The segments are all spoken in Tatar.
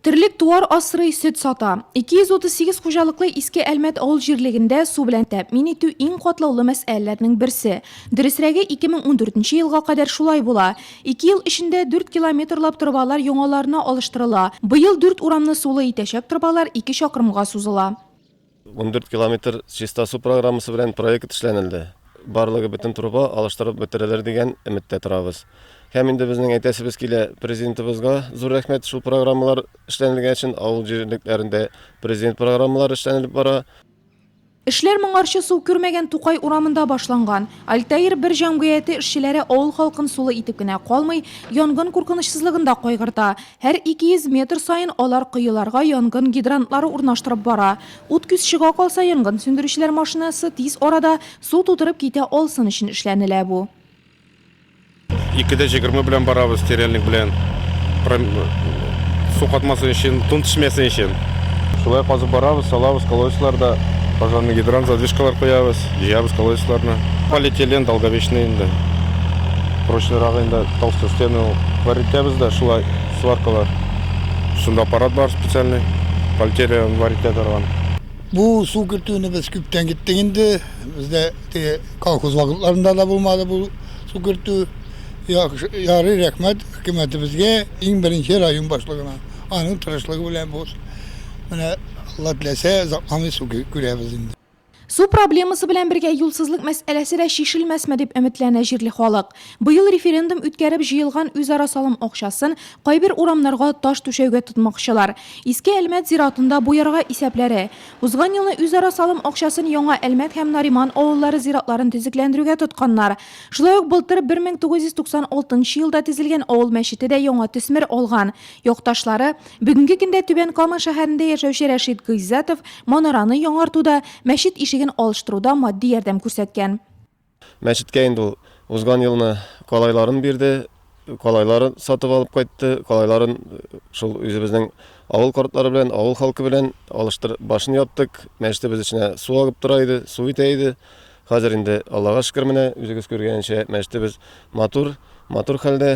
Терлек туар асрый, сөт сата. 238 хуҗалыклы Иске Әлмәт авыл җирлегендә су белән тәэмин итү иң катлаулы мәсьәләләрнең берсе. Дөресрәге, 2014 елга кадәр шулай була. Ике ел эчендә 4 километрлап торбалар яңаларына алыштырыла. Быел дүрт урамны сулы итәчәк торбалар ике чакрымга сузыла. 14 километр чиста су программасы белән проект эшләнелде. Барлыгы бөтен труба алыштырып бетерелер дигән өметтә торабыз. Һәм инде безнең әйтәсебез килә президентыбызга зур рәхмәт шул программалар эшләнелгән өчен авыл җирлекләрендә президент программалары эшләнелеп бара. Эшләр моңарчы су күрмәгән Тукай урамында башланган. Альтаир бер җәмгыяте эшчеләре авыл халкын сулы итеп кенә калмый, янгын куркынычсызлыгын да кайгырта. Һәр 200 метр саен алар коеларга янгын гидрантлары урнаштырып бара. Ут күз чыга калса, янгын сүндерүчеләр машинасы тиз арада су тутырып китә алсын өчен эшләнелә бу. Ике дә җегерме белән барабыз, теряльник белән. Су катмасын өчен, тун төшмәсен өчен. Шулай казып барабыз, салабыз колодецлар да, пожарный гидрант, задвижкалар куябыз. Җыябыз колодецларны. Полиэтилен, долговечный инде. Прочныйрагы инде, толстой стены ул. Варитәбез дә шулай, сваркалар. Шунда аппарат бар специальный, полиэтиле варитә торган. Бу су кертүне без күптән киттек инде. Бездә теге колхоз вакытларында да булмады бу су кертү. Яхшы, ярый, рәхмәт хөкүмәтебезгә, иң беренче район башлыгына. Аның тырышлыгы белән бу менә Алла теләсә, озакламый су күрәбез инде. Су проблемасы белән бергә юлсызлык мәсьәләсе дә чишелмәсме дип өметләнә җирле халык. Быел референдум үткәреп җыелган үзара салым акчасын кайбер урамнарга таш түшәүгә тотмакчылар. Иске Әлмәт зиратында буярга исәпләре. Узган елны үзара салым акчасын Яңа Әлмәт һәм Нариман авыллары зиратларын төзекләндерүгә тотканнар. Шулай ук былтыр 1996 елда тезелгән авыл мәчете дә яңа төсмер алган. Якташлары, бүгенге көндә Түбән Кама шәһәрендә яшәүче Рәшит Гыйззәтов манараны яңартуда, мәчет ишеген алыштыруда матди ярдәм күрсәткән. Мәчеткә инде ул узган елны калайларын бирде, калайларын сатып алып кайтты, калайларын шул үзебезнең авыл картлары белән, авыл халкы белән алыштыр, башын яптык, мәчетебез эченә су агып тора иде, су итә иде. Хәзер инде, Аллага шөкер, менә үзегез күргәнчә, мәчетебез матур, матур хәлдә.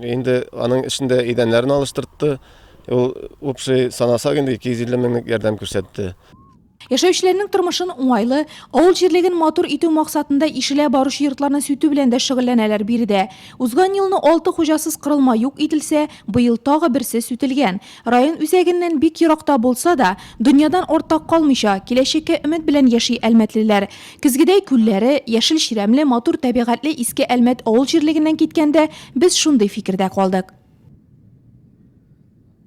Инде аның эчендә идәннәрен алыштыртты. Ул общий санасак инде 250 меңлек ярдәм күрсәтте. Яшәүчеләрнең тормышын уңайлы, авыл җирлеген матур итү максатында ишелә баручы йортларны сүтү белән дә шөгыльләнәләр биредә. Узган елны алты хуҗасыз корылма юк ителсә, быел тагы берсе сүтелгән. Район үзәгеннән бик еракта булса да, дөньядан артта калмыйча, киләчәккә өмет белән яши әлмәтлеләр. Көзгедәй күлләре, яшел чирәмле, матур табигатьле Иске Әлмәт авыл җирлегеннән киткәндә, без шундый фикердә калдык.